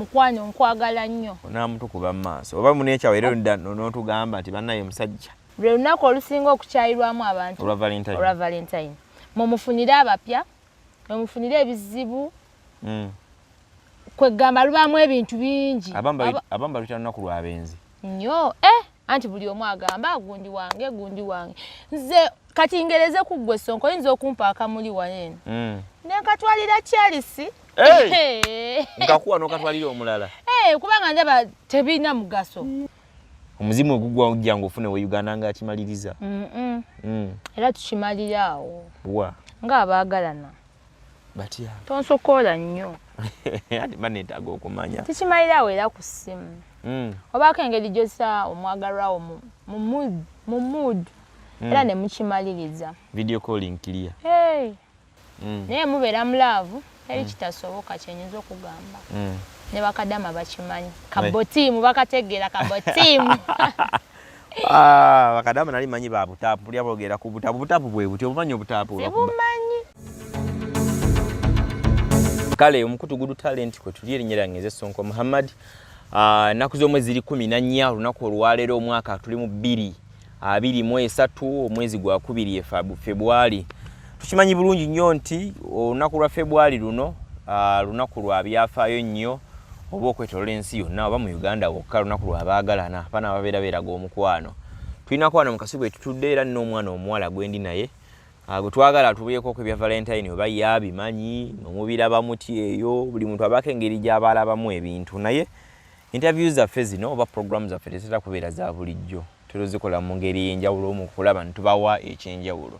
mukwano nkwagala nnyo onaamutukuba mu maaso oba munekyawo era oludda n'otugamba nti bannaye musajja lwe lunaku olusinga okukyayirwamu abantu olwa valentine mumufunire abapya mumufunire ebizibu mm. kwegamba lubaamu ebintu bingi abamu baluyita lunaku lwabenzi nyo eh! anti buli omu agamba gundi wange gundi wange nze kati ngereze ku ggwe sonko oyinza okumpa akamuli wano eno mm. nenkatwalira charisi nkakuwa nokatwalira omulala kubanga ndaba tebirina mugaso omuzimu ogugwa ojja nga ofune we uganda nga akimaliriza mm. era tukimalira awo wa nga abaagalana batya tonsokoola nnyo ati ba neetaaga okumanya tukimalira awo era ku ssimu hmm. obaako engeri gyosa omwagalwawo mu mood hmm. era ne mukimaliriza video calling clear hmm. naye mubeera mu laavu eri kitasoboka kyenyinza okugamba ne bakadama bakimanyi kabotiimu bakategeera kabotiimu Ah, bakadama nali manyi ba butapu buli abogera ku butapu butapu bwe buti obumanyi obutapu obumanyi kale omukutu gudu talent kwe tuli erinnya lyange nze sonko muhammad ah, ennaku z'omwezi ziri kumi na nnya olunaku olwaleero omwaka tuli mu bbiri abiri mu esatu omwezi gwa kubiri febwali tukimanyi bulungi nnyo nti olunaku lwa febwali luno ah, lunaku lwa byafaayo nnyo oba okwetolola ensi yonna oba mu uganda wokka lunaku lwabaagalana abaana babeera beeraga omukwano tulinako wano mukasi gwe tutudde era nina omwana omuwala gwendi naye ah, gwe twagala atubuyekooko ebya valentine oba ye abimanyi nomubiraba muti eyo buli muntu abaako engeri gy'abaalabamu ebintu naye interview zaffe zino oba programu zaffe tezitera kubeera za bulijjo tuzikola mu ngeri ey'enjawulo mu kulaba nitubawa eky'enjawulo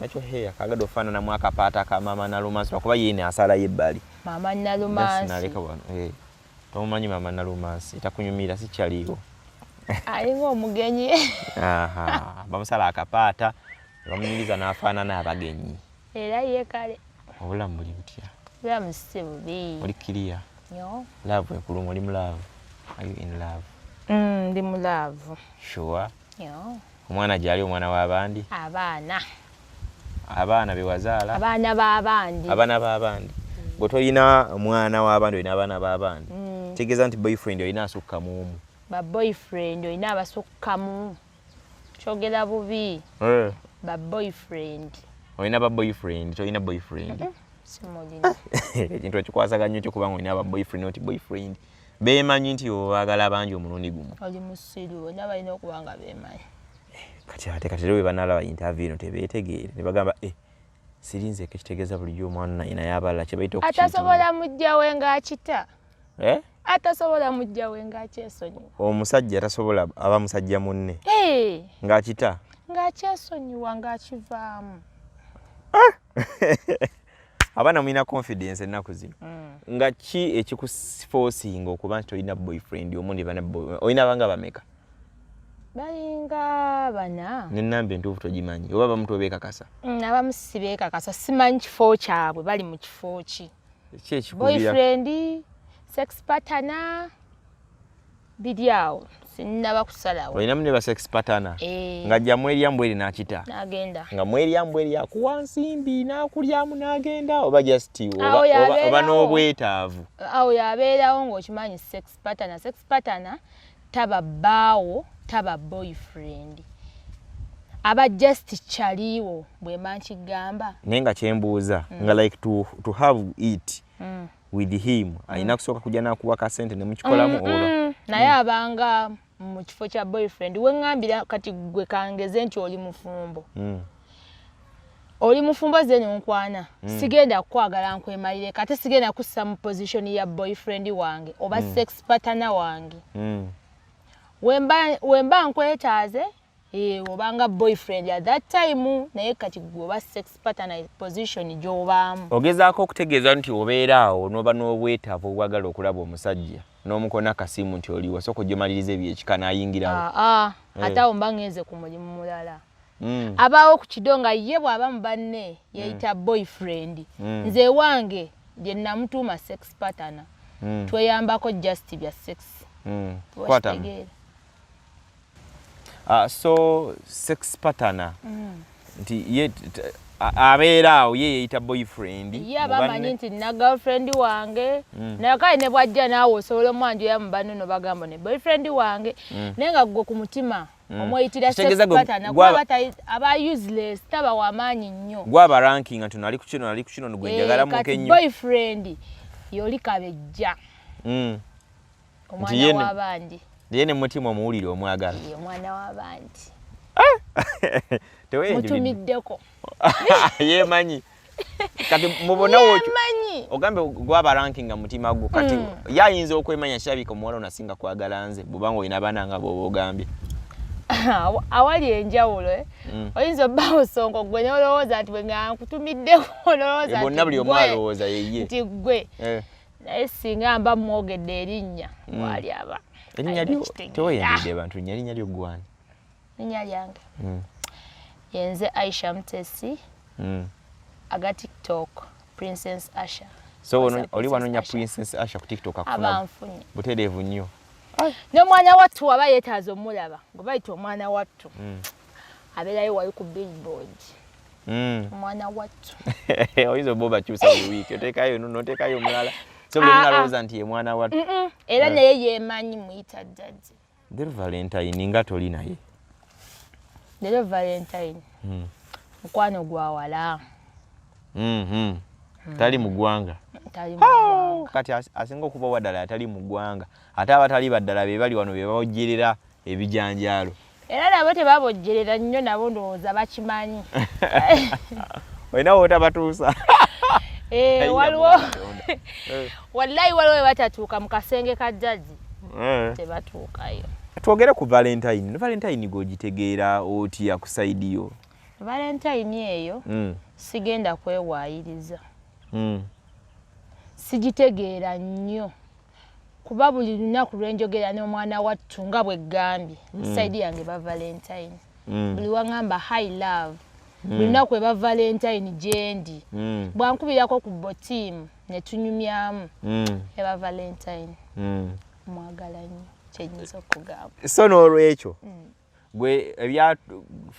nakyo heya kagade ofaanana mu akapaata ka maama nalumansi lwakuba yiine asala yebbali maama nalumansinaleka wano eh, tomumanyi maama nalumansi takunyumira sikyaliiwo alinga omugenyi bamusala akapaata bamunyiriza n'afaanana abagenyi era ye kale obulamu buli butya obulamu si bubi oli kiriya laavu ekuluma oli mu laavu are you in love mm, ndi mu laavu sure Omwana gyali omwana wa bandi. Abaana. Abaana bewazaala. Abaana ba bandi. Abaana ba bandi. Bwe tolina mwana wa bandi olina abaana ba bandi. Mm. Tegeeza nti boyfriend olina asukka mu omu. Ba boyfriend olina abasukka mu. Kyogera bubi. Eh. Ba boyfriend. Olina ba boyfriend, tolina boyfriend. Mm -hmm. Simulina. Ekintu ekikwasaganya ekyo kubanga olina ba boyfriend not boyfriend. beemanyi nti bo baagala bangi omulundi gumu oli musiru bona balina okuba nga beemanyi eh, kati ate kati era bwe banaalaba intavi eno tebeetegeere ne bagamba e eh, sirinze eko ekitegeeza bulijjo omwana naye naye abalala kye bayita atasobola mujja we ng'akita eh? atasobola mujja we ng'akyesonyiwa omusajja atasobola aba musajja munne ng'akita ng'akyesonyiwa ng'akivaamu ah! abaana mulina confidence ennaku zino mm. nga ki ekikufosinga okuba nti olina boyfriend omu ndi bana olina abanga bameka balinga bana nenamba entuufu togimanyi oba bamutu obekakasa mm, abamu sibekakasa simanyi kifo kyabwe bali mu kifo ki boyfriend sex patana biri awo sinnaba kusalawo olina mune ba sex patana eh. nga jja mwerya mbweri nakita nagenda nga mwerya mbweri akuwa nsimbi nakulyamu nagenda oba just oba n'obwetaavu awo yabeerawo ng'okimanyi sex patana sex patana taba bbaawo taba boyfriend aba just kyaliiwo bwema nkigamba naye nga kyembuuza mm. nga like to, to have it mm. with him alina mm. kusooka kujja nakuwa ka sente ne mukikolamu mm, oba mm. naye mm. abanga mu kifo kya boyfriend we ngambira kati gwe kangeze nti oli mufumbo mm. oli mufumbo zeni nkwana mm. sigenda kukwagala nkwemalire kati sigenda kussa mu position ya boyfriend wange oba mm. sex partner wange mm. wemba, wemba nkwetaaze Eh, obanga boyfriend at that time naye kati gwoba sex partner position gyobaamu ogezaako okutegeeza nti obeera awo noba n'obwetaavu obwagala okulaba omusajja n'omukona kasimu nti oliwo sooka ojomaliriza ebyekika nayingirawo ah, ah. eh. ate awo mba ngenze ku mulimu mulala mm. abaawo ku kido nga ye bw'aba mu banne yeyita mm. boyfriend mm. nze ewange gye namutuuma sex partner tweyambako just bya sex kwatamu uh, so sex patana mm. nti ye abeera awo ye yeyita boyfriend yabamanyi nti na girlfriend wange mm. naye kale ne bwajja naawe osobola omwanjo ya mubano no bagamba ne boyfriend wange mm. naye nga gwe ku mutima mm. omweyitira aba useless taba wamaanyi nnyo gwaba ranking nti nali kukino nali kukino nigwenjagala eh, muke nnyo boyfriend yoli kabejja mm. omwana w'abandi naye ne mutima omuwulire omwagala omwana w'abandi eh! mutumiddeko yemanyi kati mubona wokyo ogambe gwaba ranking nga mutima gwo kati mm. yayinza okwemanya kirabika omuwala onasinga kwagala nze bubanga olina abaana nga bwoba ogambye awali enjawulo eh? mm. oyinza obba osonga gwe nolowooza nti bwenga nkutumiddeko nolowoozabonna eh, buli omu alowooza yeye nti gwe eh. naye singa mba mwogedde erinnya mm. waali aba erinnya lyo teweyambidde bantu nya erinnya lyo gwani erinnya lyange mm. yenze aisha mutesi mm. aga tiktok princess asha so oli wanonya princess asha ku tiktok akunabanfunye butereevu nnyo n'omwana wattu waba yeetaaza omulaba ngobayita omwana wattu abeerayo wali ku billboard hmm. omwana wattu oyinza oba obakyusa buli wiiki oteekayo nuno oteekayo omulala so buli omu alowooza nti ye mwana wattu era eh. naye yeemanyi muyita jjaji lero valentine nga toli naye lero valentine hmm. mukwano gwa wala mm-hmm. hmm. tali mu ggwanga kati asinga okuba waddala atali mu ggwanga ate abatali baddala be bali wano be bawojerera ebijanjaalo era nabo tebabojjerera nnyo nabo ndowooza bakimanyi olina wotabatuusa eh, waliwo eh. wallayi waliwo webatatuuka mu kasenge ka jjaji eh. tebatuukayo twogere ku valentine valentine gwogitegeera otya ku saidi yo valentine eyo hmm. sigenda kwewaayiriza hmm. sigitegeera nnyo kuba buli lunaku lwenjogera n'omwana wattu nga bwe ggambye mm. musaidi yange ba valentine mm. buli wangamba high love mm. buli lunaku eba valentine gyendi bwankubirako ku botiimu ne tunyumyamu eba valentine mwagala nnyo kyenyinza okugamba so n'olwekyo gwe ebya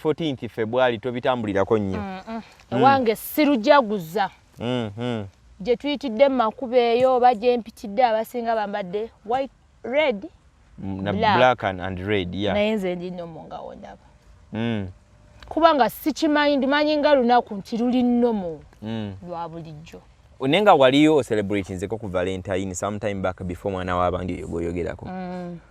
14th febwali tobitambulirako nnyo mm, mm. Mm. wange sirujaguza mm-hmm. gye tuyitidde mu makuba eyo oba gye mpitidde abasinga bambadde white red black and red naye nze ndinomo nga wondaba kubanga sikimanyi ndimanyi nga lunaku nti luli nomo lwa bulijjo naye nga waliyo celebratinzeko ku valentine sometime back before mwana wabange yogoyogerako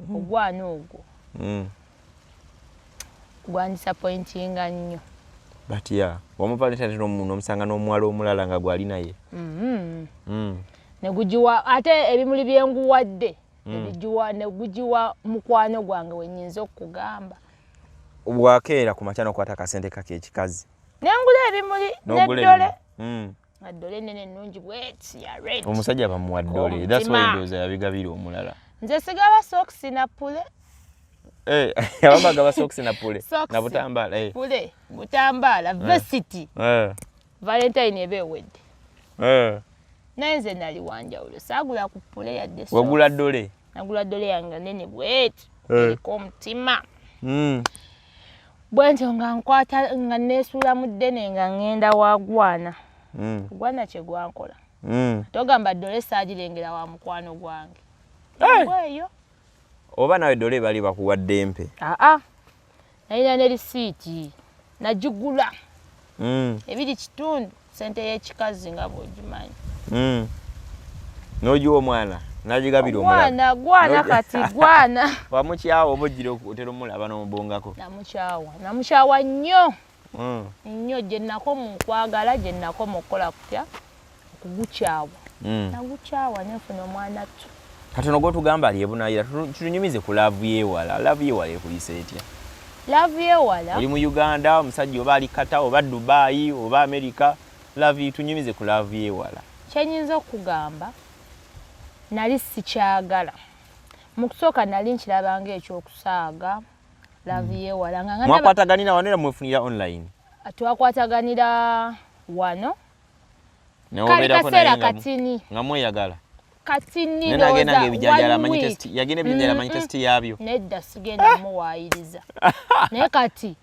mm. ogwana ogwo mm. gwandisappointinga nnyo but ya yeah. wamuvalentine nomusanga n'omuwala omulala nga gwali naye mm-hmm. mm. negugiwa ate ebimuli byenguwadde nebigiwa negugiwa mukwano gwange wenyinza okugamba bwakeera ku makya nokwata akasente kake ekikazi nengula ebimuli neddole addole nene nnungi bweti ya red omusajja bamuwa ddole that's why ndoza yabigabira omulala nze sigaba socks na pule eh abamba gaba socks na pule na butambala eh pule butambala eh. varsity eh valentine ebe wedde eh naye nze nali wanjawulo saagula ku pule yadde wagula ddole nagula ddole yange nene bweti eh. eriko omutima mm. bwentyo nga nkwata nga nesuula mu ddene nga ŋŋenda wagwana mm. gwana kye gwankola mm. togamba ddole saagirengera wa mukwano gwange eyo oba nawe ddole bali bakuwadde empe aa nalina ne lisiiti nagigula mm. ebiri kitundu sente y'ekikazi nga bw'ogimanyi hmm. n'ogiwa omwana nagigabira omwana gwana kati gwana wamukyawa oba ojjira otera omulaba n'omubongako namukyawa namukyawa nnyo hmm. nnyo gye nako mu nkwagala gye nako mu kukola kutya okugukyawa hmm. nagukyawa nenfuna omwana ttu katono gwotugamba ali ebunayira tunyumize ku laavu yewala laavu yewala ekuyisa etya laavu yewala oli mu uganda omusajja oba ali kata oba dubayi oba amerika laavu tunyumize ku laavu yewala kyenyinza okugamba nali sikyagala mu kusooka nali nkirabanga ekyokusaaga laavu hmm. yewala nga mwakwataganira wano era mwefunira online ah, twakwataganira wano kali kaseera katini nga mweyagala kati nagenda nga ebijanjala amanyi test yagenda ebijanjala amanyi test yabyo nedda sigenda ah! muwaayiriza naye kati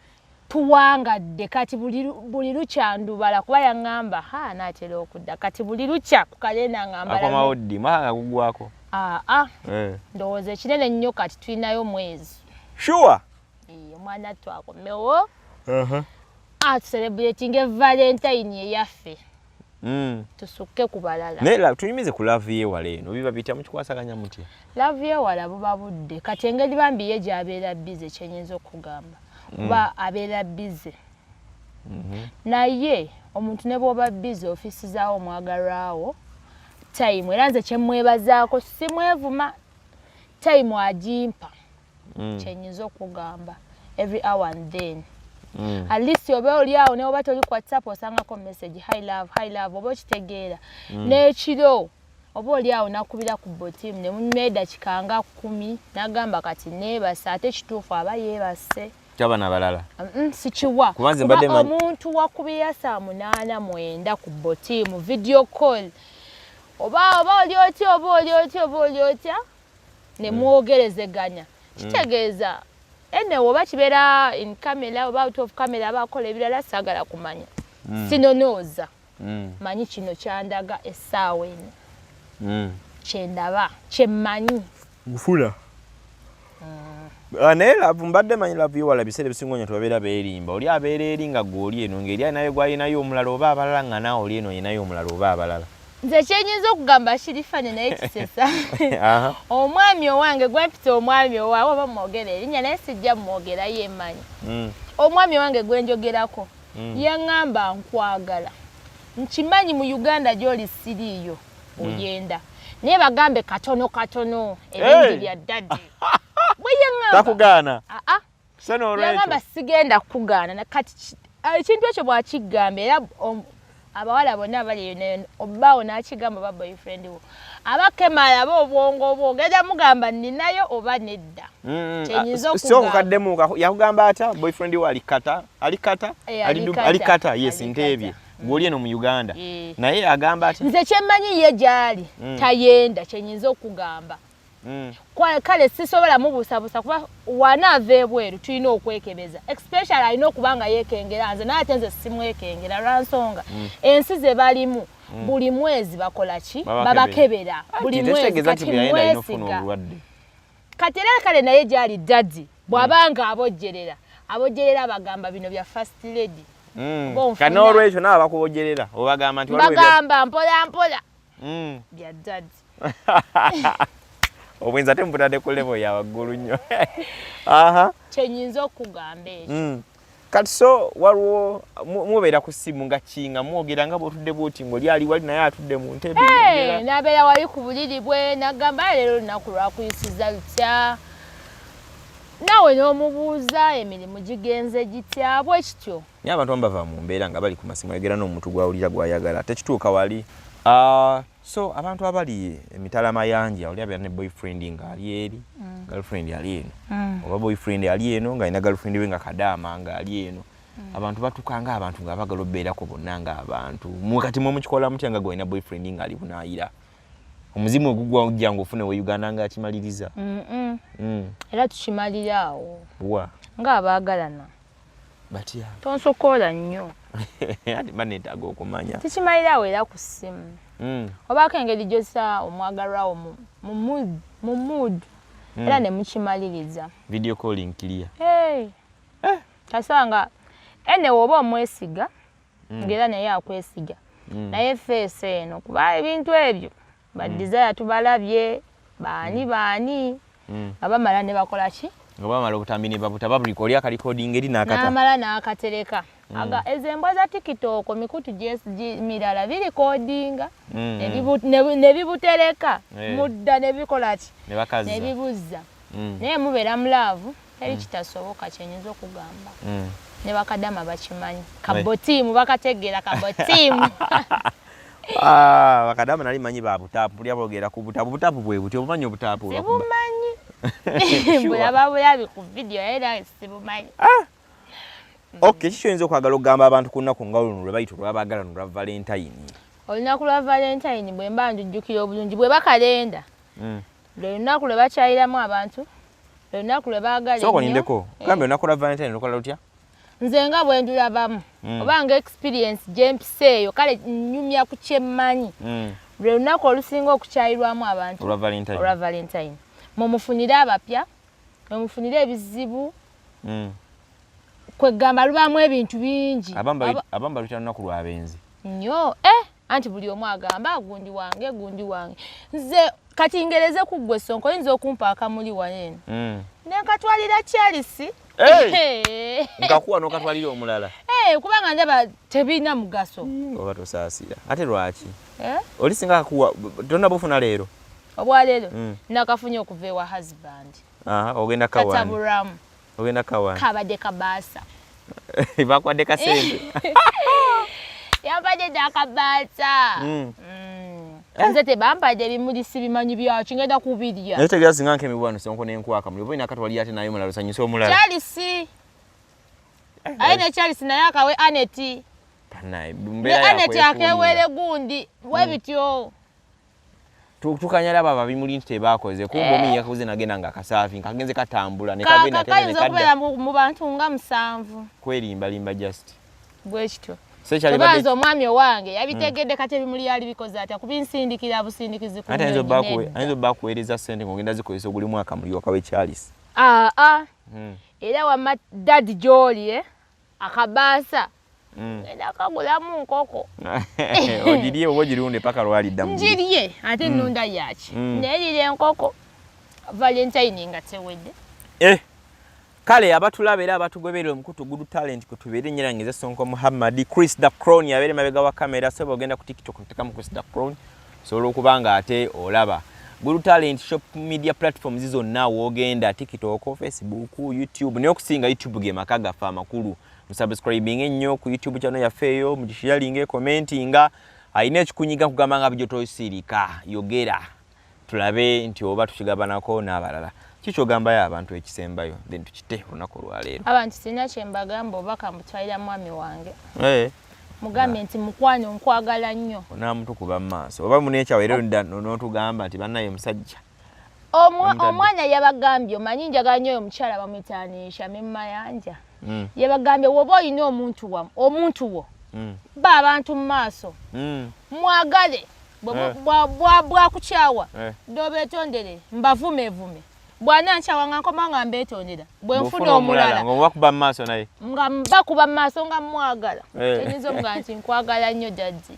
tuwangadde kati buli lukya ndubala kuba yaŋŋamba ha naatera okudda kati buli lukya ku kalenda ngambalakomawo ddi mwaka nga gugwako aa ah, ah. eh. ndowooza ekinene nnyo kati tulinayo omwezi shuwa omwana twakomewo atuserebuletinga evalentayini eyaffe Mm. tusukke ku balala naye tunyumize ku laavu yewala eno biba bitya mukikwasaganya mutya laavu yewala buba budde kati engeri bambi ye gyabeera bize kyenyinza okugamba mm. kuba mm. abeera bize mm -hmm. naye omuntu ne bwoba bize ofisizawo omwagalwawo tayimu era nze kyemwebazaako simwevuma tayimu agimpa mm. kyenyinza okugamba every hour and then mm. at least oba oli awo newoba toli ku whatsapp osangako message high love high love oba okitegeera mm. n'ekiro oba oli awo nakubira ku botimu ne munyuma edakika nga kkumi nagamba kati neebase ate kituufu aba yeebase kyaba nabalala sikiwa kuba omuntu wakubira saa munaana mwenda ku botimu video call oba oba oli otya oba oli otya oba oli otya ne hmm. mwogerezeganya hmm. kitegeeza ene oba kibeera in camera oba out of camera aba akola ebirala saagala kumanya hmm. sinonooza manyi kino kyandaga essaawa eno kyendaba kyemmanyi nfuna Ah, naye lavu mbadde manyi lavu yewala biseera ebisinga onyo tubabeera beerimba oli abeera eri nga gwe oli eno ngeri alinayo gwalinayo omulala oba abalala nga naawe oli eno olinayo omulala oba abalala nze kyenyinza okugamba shirifani naye kisesa omwami owange gwempita omwami owawe oba mwogera erinya naye sijja mwogera yemanyi mm. omwami owange gwenjogerako mm. yaŋamba nkwagala nkimanyi mu uganda gyoli siriiyo mm. oyenda naye bagambe katono katono ebingi bya dadi bweyeŋambakugaana so nolwekyoyagamba sigenda kukugaana kati ah, ekintu ekyo bwakigamba era abawala bonna abali eyonayo obaawo nakigamba oba boyfriend wo abakemala aba obwongo obwo ogenda mugamba ninayo oba nedda kyenyinzaokukaddemu ah, yakugamba atya boyfriend wo alikata alikata eh, alikata yes nteebye gwoli eno mu uganda eh. naye agamba atya nze kyemmanyi ye gyali mm. tayenda kyenyinza okugamba mm. kale sisobola mubuusabuusa kuba wanaava ebweru tulina okwekebeza especially alina okuba nga yekengera nze naye ate nze simwekengera lwansonga mm. ensi ze balimu mm. buli mwezi bakola ki babakebera buli mwezi kati mwesiga kati era kale naye gyali dadi bw'aba nga abojjerera abojjerera bagamba bino bya first lady mm. kan'olwekyo nabo bakubojerera obagamba nti bagamba mpola mpola mm. bya dad obwenzi ate mubutadde ku levo ya waggulu nnyo kyenyinza okugamba ekyo mm. kati so waliwo mubeera ku ssimu nga kinga mwogera nga bwotudde bwoti ngaoli ali wali naye atudde mu ntebe nabeera wali ku buliri bwe nagamba leero olunaku lwakuyisiza lutya naawe n'omubuuza emirimu gigenze gitya bwe kityo Naye abantu abamu bava mu mbeera nga bali ku masimu ayogera n'omuntu gw'awulira gw'ayagala ate kituuka wali ah, so abantu abali emitala mayanja oli abeera ne boyfriend nga ali eri mm. girlfriend ali eno mm. oba boyfriend ali eno nga alina girlfriend we nga kadaama nga ali eno mm. abantu batuka nga abantu nga bagala obeerako bonna nga abantu mukati mwe mukikola mutya nga gwalina boyfriend nga ali bunayira omuzimu ogugwa ojja nga ofune we uganda nga akimaliriza era tukimalira awo wa nga abaagalana batya tonsokoola nnyo ati mba neetaaga okumanya tukimalira awo era ku ssimu hmm. obaako engeri gyosa omwagalwawo mu mood hmm. era ne mukimaliriza video calling clear eh. kasaba nga ene woba omwesiga hmm. ngaera naye akwesiga naye feesi eno kuba ebintu ebyo Ba desire tubalabye baani baani nga bamala ne bakola ki? Nga bamala obutambi ne babuta babuli oli akalikodinga eri n'akata. N'amala n'akatereka. Aga ezo embwa za tikitooko mikutu mirala birikodinga ne bibutereka mudda ne bikola ki? Ne bibuzza. Naye mubeera mu laavu. teri mm. kitasoboka kyenyinza okugamba mm. ne bakadama bakimanyi kabotiimu bakategeera kabotiimu ah, bakadama nali manyi ba butaapu bulya bogeera ku butaapu butaapu bwe buti obumanyi obutaapu sibumanyi bulaba bulabi ku vidiyo era sibumanyi ah! ok kiki kyoyinza okwagala okugamba abantu ku nnaku nga luno lwe bayita olwabagala no lwa valentayini olunaku lwa valentayini bwe mba njujjukira obulungi bwe bakalenda mm. lwe lunaku lwe bakyayiramu abantu lwe lunaku lwe baagala soko nindeko eh. gambye olunaku lwa valentine lukola lutya nze nga bwe ndulabamu mm. oba nga experience gye mpisa eyo kale nnyumya ku kyemmanyi mm. lwe lunaku olusinga okukyayirwamu abantu olwa valentine mumufunire abapya mumufunire ebizibu mm. kwegamba lubaamu ebintu bingi abamba lutya lunaku lwabenzi nyo eh anti buli omu agamba ah, gundi wange gundi wange nze kati ngereze ku ggwe sonko oyinza okumpa akamuli waneeno mm. nenkatwalira charisi nkakuwa nokatwalira omulala kubanga ndaba tebirina mugaso mm, oba tosaasira ate lwaki eh? oli singa akuwa tonna bufuna leero obwaleero mm. nakafunye okuva ewa husband ogenda kataburamu ogenda kawani kabadde kabaasa bakuwadde kasente yabadde dakabaasa hmm. hmm. nze tebampadde ebimuli sibimanyi byaki ngenda kubirya naye tegera singa nkemiwano sonko nenkwaka muli oba olina kati wali ate naye mulala osanyusa omulala kyalisi eh, aye eh. nekyalisi naye akawe aneti aneti akewere gundi webityo hmm. tukanya laba babimuli nti tebakoze kumbe omu eh. yakoze nagenda nga kasaafi nkagenze katambula nekagenda okubeera mu bantu nga musanvu kwerimbalimba just bwekityo sekyalibanze omwami owange yabitegedde hmm. kati ebimuli yali bikoze atya kubinsindikira busindikizi ayinza obba kuweereza sente ngaogenda zikozesa oguli mwaka muli waka wekyalisi aa ah, ah. hmm. era wama dadi gyoli eh? akabaasa Mm. ngenda kagulamu nkoko ogirye oba ogirunde paka lwalidda ngirye ate mm. nunda yaki mm. naye lira enkoko valentine nga tewedde eh. kale abatulaba era abatugoberera omukutu gudu talent kutubeere nyera ngeze sonko muhammad chris da crown yabeere mabega wa kamera soba ogenda ku tiktok otekamu chris da crown osobola okuba nga ate olaba Guru Talent Shop Media Platform zizo na wogenda TikTok, Facebook, YouTube. Niyo kusinga YouTube ge makaga fa makulu. musubscribinge nnyo ku youtube kyano yaffe eyo mugishiyalinge commentinga alina ekikunyiga nkugamba nga bijo tosiirika yogera tulabe nti oba tukigabanako n'abalala kikyogambayo abantu ekisembayo then tukite olunaku olwaleero abantu sirina kyembagamba obaka mbutwalira mwami wange hey. Eh. mugambye nti mukwano nkwagala nnyo onamutukuba mu maaso oba munekyawo era notugamba nti banaye musajja omwana yabagambye omanyi njagala nyo oyo mukyala bamwitanisha memumayanja mm. yabagambye woba olina omuntu wa omuntu wo mm. ba abantu mu maaso mm. mwagale eh. bwakukyawa eh. dobetondere mbavumevume bwana nkyawa nga nkoma nga mbetondera bwe nfuna omulala nga mbakuba mu maaso naye nga mbakuba mu maaso nga mwagala eh. enyinza omuga nti nkwagala nnyo jajji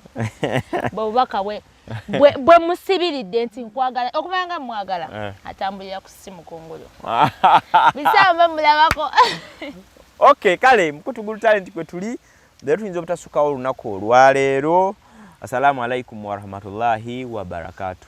bwebubaka bwe bwe musibiridde nti nkwagala okumanya nga mwagala eh. atambulira ku simu kungulu bisamba mulabako ok kale mukutugulu talenti kwe tuli naye tuyinza obutasukawo olunaku olwaleero assalamu alaikum warahmatullahi wabarakatuh